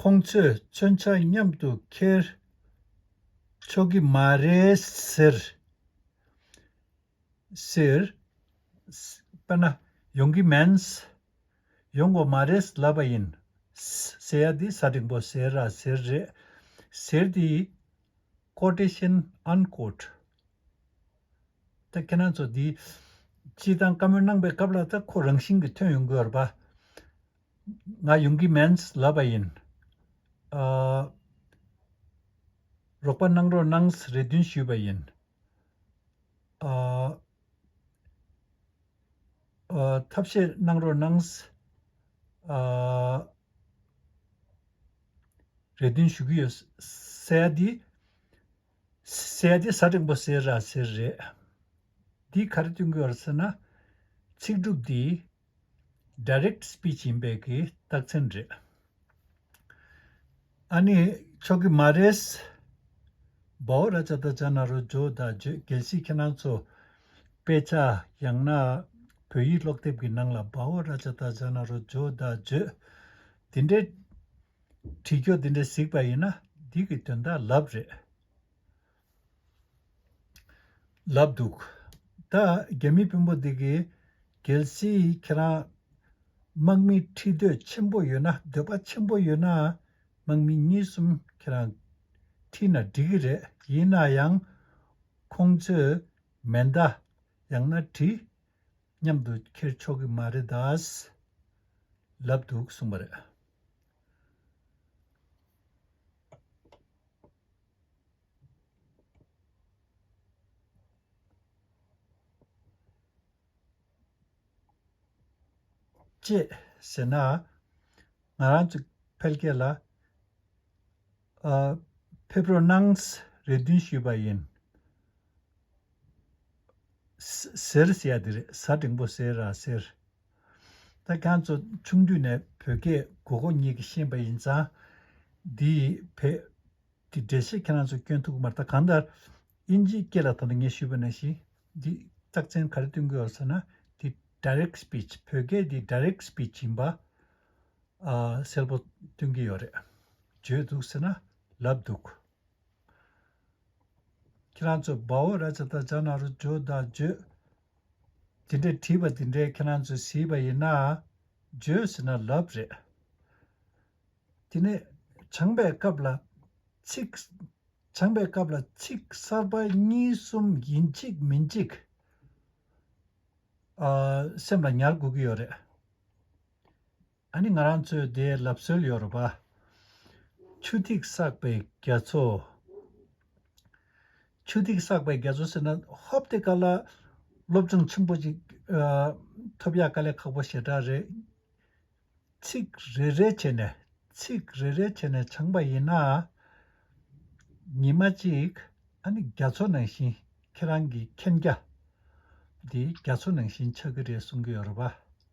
ཁོང་ཚོས་མཚོན་ཆ་མཉམ་དུ་འཁྱེར་ཆོག་གི་མ་རེད་ཟེར། དཔེར་ན། ཡོང་གི་མིན། ཡོང་གོ་མ་རེད་ལབ་པ་ཡིན། ཟེར་ཡ་དེ་ས་འགྲིག་པོ་ཟེར་ར་ཟེར་རེད། ཟེར་དེ། Quotation Unquote ད་ཁྱེད་རང་ཚོ་འདིའི་སྤྱི་བཏང་བཀའ་མོལ་གནང་པའི་སྐབས་ལ་ད་ཁོ་རང་བཞིན་གྱིས་ཐོན་ཡོང་དགོས་པ་ང་ཡོང་གི་མེད་ལབ་པ་ཡིན། རོགས་པ་གནང་རོགས་གནང་རེ་འདུན་ཞུས་པ་ཡིན། ཐབས་ཤེས་གནང་རོགས་གནང། རེ་འདུན་ཞུ་གི་ཡོད། སའི་འདི། སའི་འདི་ས་རིང་པོ་སའི་ར་སའི་རེད། འདི་ག་རེ་བསྟུན་གི་ཡོད་ཟེར་ན། ཚིག་གྲུབ་འདི། Direct Speech ཡིན་པས་ཀྱི་རྟགས་མཚན་རེད། ཨ་ནི་ཆོག་གི་མ་རེད། བའོ་ར་ཅཱ་ད་ཅཱ་ན་རོ་ཇོ་ད་ཇོས་གལ་སྲིད་ཁྱེད་རང་ཚོ། དཔེ་ཆ་ཡང་ན། བོད་ཡིག་ཀློག་དེབ་ཀྱི་ནང་ལ་བཱོ་ར་ཅ་ཏཱ་ཇཱ་ན་རོ་ཇོ་ད་བརྗོད། དེ་འདྲའི། བྲིས་སྐྱོ་དེ་འདྲའི་གཟིགས་པ་ཡིན་ན་འདི་གི་དོན་དག་ལབ་རེད། ལབ་འདུག། ད་རྒྱ་མི་དཔོན་པོ་འདི་གི། གལ་སྲིད་ཁྱེད་རང། དམག་མི་ཁྲི་འདོད་ཆེན་པོ་ཡོད་ན་འདོད་པ་ཆེན་པོ་ཡོད་ན། དམག་མི་གཉིས་གསུམ་ཁྱེད་རང། ཁྲིད་ན་འགྲིག་གི་རེད་ཡིན་ན་ཡང། ཁོང་ཚོས་མེ་མདའ། ཡང་ན་གྲི། མཉམ་དུ་འཁྱེར་ཆོག་གི་མ་རེད་དཱ། ལབ་འདུག་གསུངས་པ་རེད། ཅེས་ཟེར་ན། ང་རང་ཚོ་འཕེལ་རྒྱས་ལ། ཕེབས་རོགས་གནང། རེ་འདུན་ཞུས་པ་ཡིན། ཟེར། ཟེར་ཡ་དེ་རེད་ཟ་འབྲིང་པོ་ཟེར་ར་ཟེར། ད་ཁྱང་ཚོ་ཆུང་དུས་ནས་བོད་སྐད་གོ་གོ་ཉིད་ཀྱི་ཤེས་པ་ཡིན་ཙང། འདི་ཡི་བོད་ཀྱི་འགྲེལ་བཤད་ཁྱེད་རང་ཚོ་སྐྱོན་ཐུག་མར་ད་གང་ལྟར། དབྱིན་ཇིའི་སྐད་ལ་ད་ལྟ་ངས་ཞུས་པ་ནང་བཞིན་འདི་རྟགས་མཚན་ག་རེ་བསྟུན་དགོས་ཡོད་ཟེར་ན། འདི Direct Speech བོད་སྐད་འདི Direct Speech ཡིན་པ། སེལ་པོ་སྟོན་གྱི་ཡོད་རེད་བརྗོད་འདུག་ཟེར་ན་ལབ་འདུག། ཁྱེད་རང་ཚོས་སྦ་འོ་ར་ཆ་ད་ཅག་ནང་རུ་འཇོག་ད་བརྗོད། དེ་འདྲས་བྲིས་པ་དེ་འདྲས་ཁྱེད་རང་ཚོས་ཟིས་པ་ཡིན་ན། བརྗོད་ཟེར་ན་ལབ་རེད། དེ་ནས་བྱང་པའི་སྐབས་ལ་ཚིག། བྱང་པའི་སྐབས་ལ་ཚིག་གསར་པ་གཉིས་གསུམ་ཡིན་གཅིག་མིན་གཅིག། སེམས་ལ་ཉར་དགོས་ཀྱི་ཡོད་རེད། ཨ་ནི་ང་རང་ཚོའི་སྡེའི་ལབ་སྲོལ་ཡོད་རེད་པ། ཆུ་ཐིགས་བསགས་པའི་རྒྱ་མཚོ། ཆུ་ཐིགས་བསགས་པའི་རྒྱ་མཚོ་ཟེར་ན་ཧོབ་སྟེ་ཀ་ལ། སློབ་སྦྱོང་ཆེན་པོ་ཅིག་ཐོབ་ཡག་དཀའ་ལས་ཁག་པོ་ཞེ་དྲག་རེད། ཚིག་རེ་རེ་བྱས་ནས་ཚིག་རེ་རེ་བྱས་ནས་སྦྱངས་པ་ཡིན་ན། ཉིན་མ་གཅིག་ཨ་ནི་རྒྱ་མཚོ་ནང་བཞིན་ཁྱེད་རང་གི་མཁྱེན་རྒྱ། འདི་རྒྱ་མཚོ་ནང་བཞིན་ཆགས་ཀྱི་རེད་གསུང་གི་ཡོད་རེད་པ།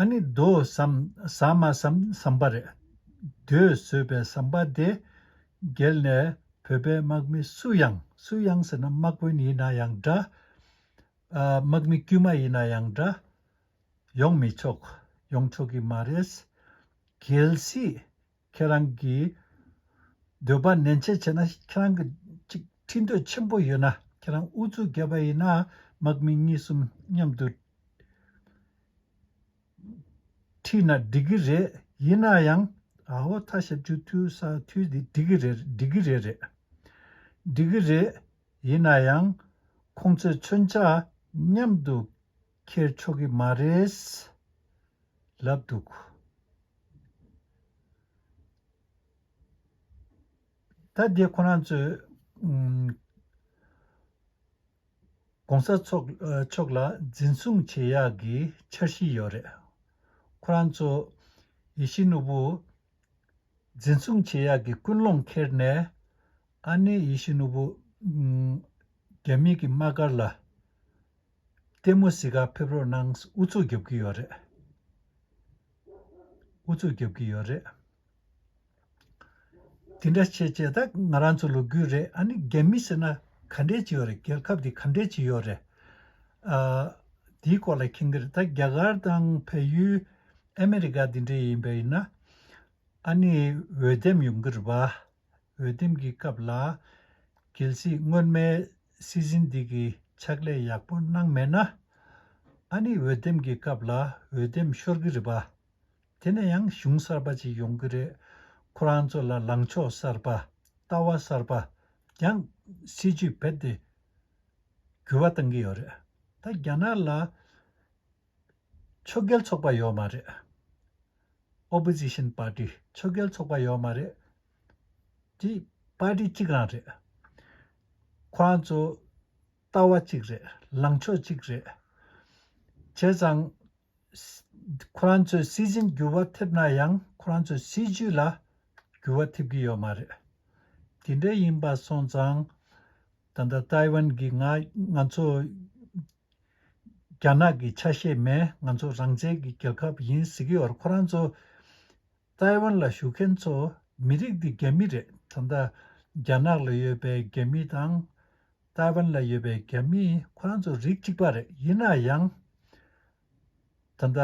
ཨ་ནི་རྡོ་བསམ་ཟ་མ་བསམ་བསམ་པ་རེད། རྡོས་ཟོས་པའི་བསམ་པ་དེ་འགྱེལ་ནས་བོད་པའི་དམག་མི་སུ་ཡང་སུ་ཡང་ཟེར་ན་དམག་དཔོན་ཡིན་ན་ཡང་འདྲ། དམག་མི་དཀྱུས་མ་ཡིན་ན་ཡང་འདྲ། ཡོང་མི་ཆོག་ཡོང་ཆོག་གི་མ་རེད། གལ་སྲིད། ཁྱེད་རང་གིས་འདོད་པ་ནན་ཆེ་བྱས་ན་ཁྱེད་རང་གི་ཅིག་ཁྲིད་འདོད་ཆེན་པོ་ཡོད་ན་ཁྱེད་རང་འུ་ཚོའི་སྒེར་པ་ཡིན་ན་དམག་མི་གཉིས་གསུམ་མཉམ་དུ་ཁྲིད་ན་འགྲིག་གི་རེད་ཡིན་ན་ཡང་ཨ་བ་ཐ་ཞབས་ཆུ་འཐུལ་ས་འཐུལ་དེ་འགྲིག་གི་རེད་འགྲིག་གི་རེད་རེད་འགྲིག་གི་རེད་ཡིན་ན་ཡང་ཁོང་ཚོས་མཚོན་ཆ་མཉམ་དུ། ཁྱེར་ཆོག་གི་མ་རེད། ལབ་འདུག། ད་འདི་ཁོ་རང་ཚོས། ྋགོང་ས་མཆོག་ལ་འཛིན་བཟུང་བྱེད་ཡག་གི་འཆར་གཞི་ཡོད་རེད། ཁོ་རང་ཚོ་ཡེ་ཤེས་ནོར་བུ། འཛིན་བཟུང་བྱེད་ཡག་གི་ཀུན་སློང་ཁྱེར་ནས། ཨ་ནེ་ཡེ་ཤེས་ནོར་བུ། རྒྱ་མི་གི་དམག་སྒར་ལ། ལྟད་མོ་བཟི་ཁ་ཕེབས་རོགས་གནང་ཨུ་ཚུགས་རྒྱབ་ཀྱི་ཡོད་རེད། ཨུ་ཚུགས་རྒྱབ་ཀྱི་ཡོད་རེད། དེ་འདྲ་བྱེད་བྱེད་ད་ང་རང་ཚོ་ལོ་རྒུད་རེད་ཨ་ནི་རྒྱ་མི་ཟེར་ན་ག་འདྲས་ཀྱི་ཡོད་རེད་རྒྱལ་ཁབ་དེ་ག་འདྲས་ཀྱི་ཡོད་རེད། ཨ། དེའི་སྐོར་ལ་མཁྱེན་གྱི་རེད་ད་རྒྱ་གར་དང་བལ་ཡུལ་ཨ་མི་རི་ཀ་དེ་འདྲས་ཡིན་པ་ཡིན་ན་ཨ་ནི་འོས་འདེམས་ཡོང་གྱི་རེད་བ། འོས་འདེམས་ཀྱི་སྐབས་ལ་གལ་སྲིད་སྔོན་མའི་སྲིད་འཛིན་འདི་གིས་ཕྱག་ལས་ཡག་པོ་གནང་མེད་ན། ཨ་ནི་འོས་འདེམས་ཀྱི་སྐབས་ལ་འོས་འདེམས་ཤོར་གི་རེད་པ། དེ་ནས་ཡང་གཞུང་གསར་པ་ཅིག་ཡོང་གི་རེད། ཁོ་རང་ཚོ་ལ་ལངས་ཕྱོགས་གསར་པ། ལྟ་བ་གསར་པ། ཀྱང་སྲིད་ཇུས་བེད་དེ་འགྱུར་བ་གཏང་གི་ཡོད་རེད། ད་རྒྱ་ནག་ལ། ཕྱོགས་འགལ་ཚོགས་པ་ཡོད་མ་རེད། Opposition Party། ཕྱོགས་འགལ་ཚོགས་པ་ཡོད་མ་རེད། ཀྱི Party གཅིག་རང་རེད། ཁོ་རང་ཚོ། ལྟ་བ་གཅིག་རེད། ལངས་ཕྱོགས་གཅིག་རེད། བྱས་ཙང། ཁོ་རང་ཚོས་སྲིད་འཛིན་འགྱུར་བ་ཐེབས་ན་ཡང་ཁོ་རང་ཚོའི་སྲིད་ཇུས་ལ། འགྱུར་བ་ཐེབས་ཀྱི་ཡོད་མ་རེད། དེ་འདྲ་ཡིན་པ་སོང་ཙང། ད་ལྟ་ཏཱའི་ཝན་གྱིས་ང། ང་ཚོ། རྒྱ་ནག་གི་ཆ་ཤས་མས་ང་ཚོ་རང་བཙན་གྱི་རྒྱལ་ཁབ་ཡིན་ཟེར་གི་བར་ཁོ་རང་ཚོ་ཏཱའི་ཝན་ལ་བཞུགས་མཁན་ཚོ་མི་རིགས་འདི་རྒྱ་མི་རེད་ད་ལྟ་རྒྱ་ནག་ལ་ཡོད་པའི་རྒྱ་མི་དང། ཏཱའི་ཝན་ལ་ཡོད་པའི་རྒྱ་མི་ཁོ་རང་ཚོ་རིགས་གཅིག་པ་རེད་ཡིན་ན་ཡང། ད་ལྟ།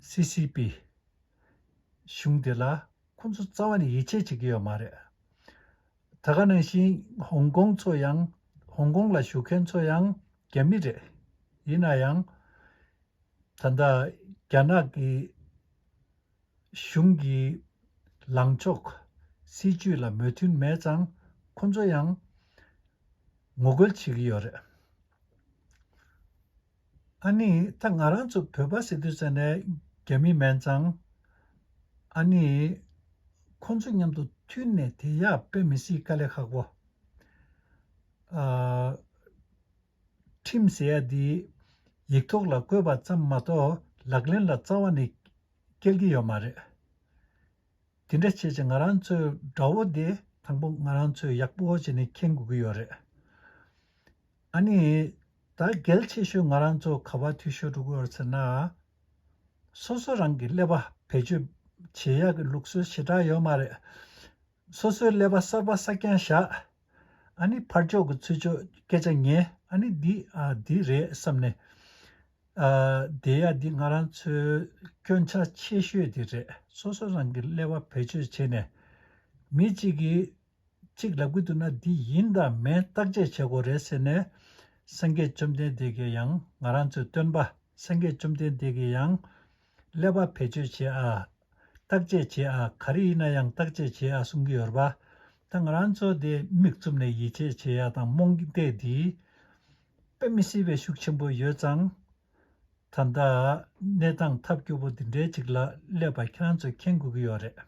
སི་སི་པི། གཞུང་དེ་ལ་ཁོ་ཚོ་རྩ་བ་ནས་ཡིད་ཆེས་བྱེད་ཀྱི་ཡོད་མ་རེད། ད་ག་ནང་བཞིན་ཧོང་ཀོང་ཚོ་ཡང་ཧོང་ཀོང་ལ་བཞུགས་མཁན་ཚོ་ཡང་རྒྱ་མི་རེད། ཡིན་ན་ཡང། ད་ལྟ་རྒྱ་ནག་གི་གཞུང་གི་ལངས་ཕྱོགས་སྲིད་ཇུས་ལ་མོས་མཐུན་མེད་ཙང་ཁོ་ཚོ་ཡང་ངོ་རྒོལ་བྱེད་ཀྱི་ཡོད་རེད། ཨ་ནི་ད་ང་རང་ཚོ་བོད་པ་སི་ཏུ་ས་ནས་རྒྱ་མི་མན་ཙང། ཨ་ནི། ཁོང་ཚོ་མཉམ་དུ་མཐུན་ནས་དེ་ཡག་དཔེ་མི་སྲིད་དཀའ་ལས་ཁག་པོ། ཨ། ཁྲིམས་ཟེར་ཡ་འདི། ཡིག་ཐོག་ལ་བཀོད་པ་ཙམ་མ་གཏོགས་ལག་ལེན་ལ་རྩ་བ་ནས་སྐྱེལ་གྱི་ཡོད་མ་རེད། དེ་འདྲ་བྱས་ཚེ་ང་རང་ཚོའི་དགྲ་བོ་དེ་དང་པོ་ང་རང་ཚོས་ཡག་པོ་བྱས་ནས་མཁྱེན་དགོས་ཀྱི་ཡོད་རེད། ཨ་ནི། ད་གལ་ཆེ་ཤོས་ང་རང་ཚོ་ག་བར་འཐུས་ཤོར་འགྲོ་གི་ཡོད་ཟེར་ན། སོ་སོ་རང་གི་ཀླད་པ་བེད་སྤྱོད་བྱེད་ཡག་གི་ལུགས་སྲོལ་ཞེ་དྲག་ཡོད་མ་རེད། སོ་སོའི་ཀླད་པ་གསར་པ་གསར་རྐྱང་བཞག་ཨ་ནི་ཕར་ཕྱོགས་ཀྱི་ཚུར་ཕྱོགས་སྐད་ཆ་ཉན་ཨ་ནི་འདི་ཨ་འདི་རེད་བསམ་ནས་བསྡད་ཡ་འདི་ང་རང་ཚོའི་སྐྱོན་ཆ་ཆེ་ཤོས་དེ་རེད་སོ་སོ་རང་གི་ཀླད་པ་བེད་སྤྱོད་བྱེད་ནས་མི་གཅིག་གིས་གཅིག་ལབ་ཀི་འདུག་ན་འདི་ཡིན་དང་མིན་བརྟག་དཔྱད་བྱེད་དགོས་རེད་ཟེར་ནས། སངས་རྒྱས་བཅོམ་ལྡན་འདས་ཀྱིས་ཡང་ང་རང་ཚོའི་སྟོན་པ་སངས་རྒྱས་བཅོམ་ལྡན་འདས་ཀྱིས་ཡང། ཀླད་པ་བེད་སྤྱོད་བྱེད་ཨ། བརྟག་དཔྱད་བྱེད་ཨ་ག་རེ་ཡིན་ན་ཡང་བརྟག་དཔྱད་བྱེད་ཨ་གསུང་གི་ཡོད་རེད་པ། ད་ང་རང་ཚོ་དེ་མིག་བཙུམ་ནས་ཡིད་ཆེས་བྱེད་ཡ་དང་རྨོངས་དད་འདིས། དཔེ་མི་སྲིད་པའི་ཤུགས་ཆེན་པོ་ཡོད་ཙང། ད་ལྟ། གནས་སྟངས་ཐབས་སྐྱོ་པོ་འདི་འདྲའི་ཅིག་ལ་ཀླད་པ་ཁྱེད་རང་ཚོས་མཁྱེན་དགོས་ཀྱི་ཡོད་རེད།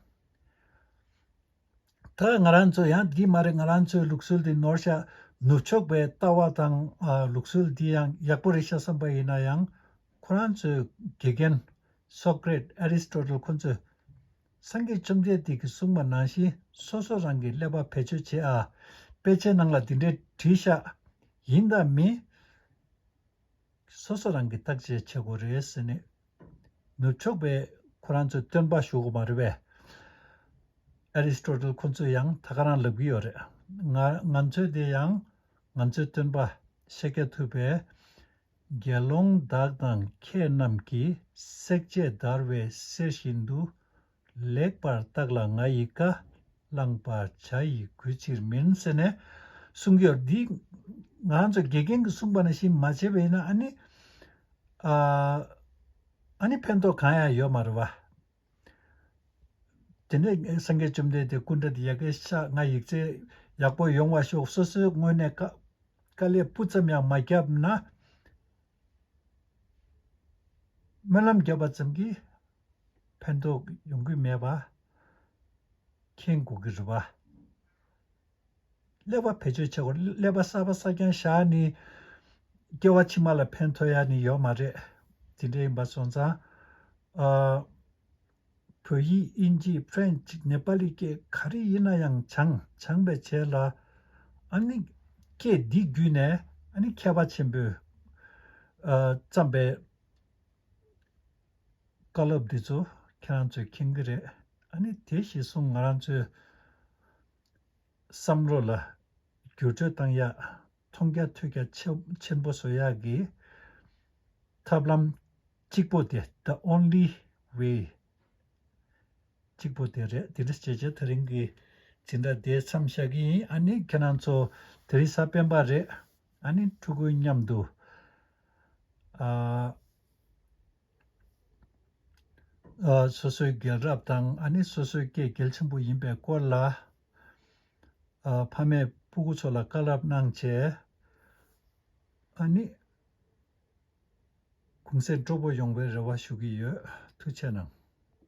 ད་ང་རང་ཚོ་ཡང་འདི་མ་རེད་ང་རང་ཚོའི་ལུགས་སྲོལ་འདི་ནོར་ཤག་ནུབ་ཕྱོགས་པའི་ལྟ་བ་དང་ལུགས་སྲོལ་འདི་ཡང་ཡག་པོ་རེད་ཤག་བསམ་པ་ཡིན་ན་ཡང་ཁོ་རང་ཚོའི་དགེ་རྒན། Socrates། Aristotle། ཁོ་ཚོས་སངས་རྒྱས་བཅོམ་ལྡན་འདས་ཀྱིས་གསུངས་པ་ནང་བཞིན་སོ་སོ་རང་གིས་ཀླད་པ་བེད་སྤྱོད་བྱེད་ཨ། དཔེ་ཆའི་ནང་ལ་འདི་འདྲས་བྲིས་ཤག། ཡིན་དང་མིན། སོ་སོ་རང་གི་བརྟག་དཔྱད་བྱེད་དགོས་རེད་ཟེར་ནས། ནུབ་ཕྱོགས་པས་ཁོ་རང་ཚོའི་སྟོན་པ་ཞུ་གི་མ་རེད་པས། Aristotle ཁོ་ཚོས་ཡང་ད་ག་རང་ལབ་གི་ཡོད་རེད། ང་ང་ཚོའི་དེ་ཡང་ང་ཚོའི་སྟོན་པ་ཤེས་ཀྱ་ཐུབ་པས། དགེ་སློང་བདག་དང་ཁྱེད་རྣམས་ཀྱིས་བསྲེག་བཅད་བརྡར་བས་གསེར་བཞིན་དུ་ལེགས་པར་བརྟགས་ལ་ང་ཡི་བཀའ། བླངས་པ་བྱ་ཡི་གུས་ཕྱིར་མིན་ཟེར་ནས་གསུངས་ཀྱི། འདི་ང་ཚོ་དགེ་རྒན་གྱིས་གསུངས་པ་ནི་ཞིབ་མ་བྱས་པས་ཡིན་ན་ཨ་ནི། ཨ་ནི་ཕན་ཐོགས་གང་ཡང་ཡོད་མ་རེད་བ། དེ་ནས་སེང་གེ་བཅོམ་ལྡན་འདས་སྐུ་འདྲ་འདི་ཡལ་གའི་ཤ་ལྔ་ཡིག་ཚད་ཡག་པོ་ཡོང་བ་ཤོག་སོ་སོའི་སྔོན་ནས་དཀའ་ལས་སྤུ་ཙམ་ཡང་མ་བརྒྱབ་ན། སྨོན་ལམ་བརྒྱབ་པ་ཙམ་གྱིས་ཕན་ཐོགས་ཡོང་གི་མེད་པ་མཁྱེན་དགོས་ཀྱི་རེད། ཀླད་པ་བེད་སྤྱོད་བྱེད་དགོས་ཀླད་པ་གསར་པ་གསར་རྐྱང་བཞག་ནས་སྐྱེ་བ་ཕྱི་མ་ལ་ཕན་ཐོགས་ཡ་ནི་ཡོད་མ་རེད། དེ་འདྲ་ཡིན་པ་སོང་ཙང། བོད་ཡིག་དབྱིན་ཇི French ནེ་པ་ལི་སྐད་ག་རེ་ཡིན་ན་ཡང་བྱང་བྱང་བས་བྱས་ལ། ཨ་ནི། སྐད་འདི་བརྒྱུད་ནས་ཨ་ནི་མཁས་པ་ཆེན་པོས་བརྩམས་པའི་བཀའ་སློབ་འདི་ཚོ་ཁྱེད་རང་ཚོས་མཁྱེན་གྱི་རེད་ཨ་ནི་དེ་ཞེས་གསུངས་ང་རང་ཚོའི་བསམ་བློ་ལ་བསྒྱུར་བཅོས་བཏང་ཡག། མཐོང་རྒྱ་ཐོས་རྒྱ་ཆེན་པོ་བཟོ་ཡ་གི། ཐབས་ལམ་གཅིག་པོ་དེ the only way གཅིག་པོ་དེ་རེད་དེ་འདྲ་བྱས་བྱས་ད་རིང་གི་དེ་འདྲ་དེ་མཚམས་བཞག་གི་ཡིན་ཨ་ནི་ཁྱེད་རང་ཚོ་དེ་རིང་ས་པན་པ་རེད་ཨ་ནི་ཕྲུ་གུ་མཉམ་དུ་ཨ། སོ་སོའི་རྒྱལ་རབས་དང་ཨ་ནི་སོ་སོའི་སྐད་རྒྱལ་ཆེན་པོ་ཡིན་པའི་སྐོར་ལ། ཕ་མས་སྤུ་གུ་ཚོ་ལ་བཀའ་སླབ་གནང་བྱས། ཨ་ནི། གུང་སེང་སྤྲོ་པོ་ཡོང་བའི་རེ་བ་ཞུ་གི་ཡོད། ཐུགས་ཆེ་གནང།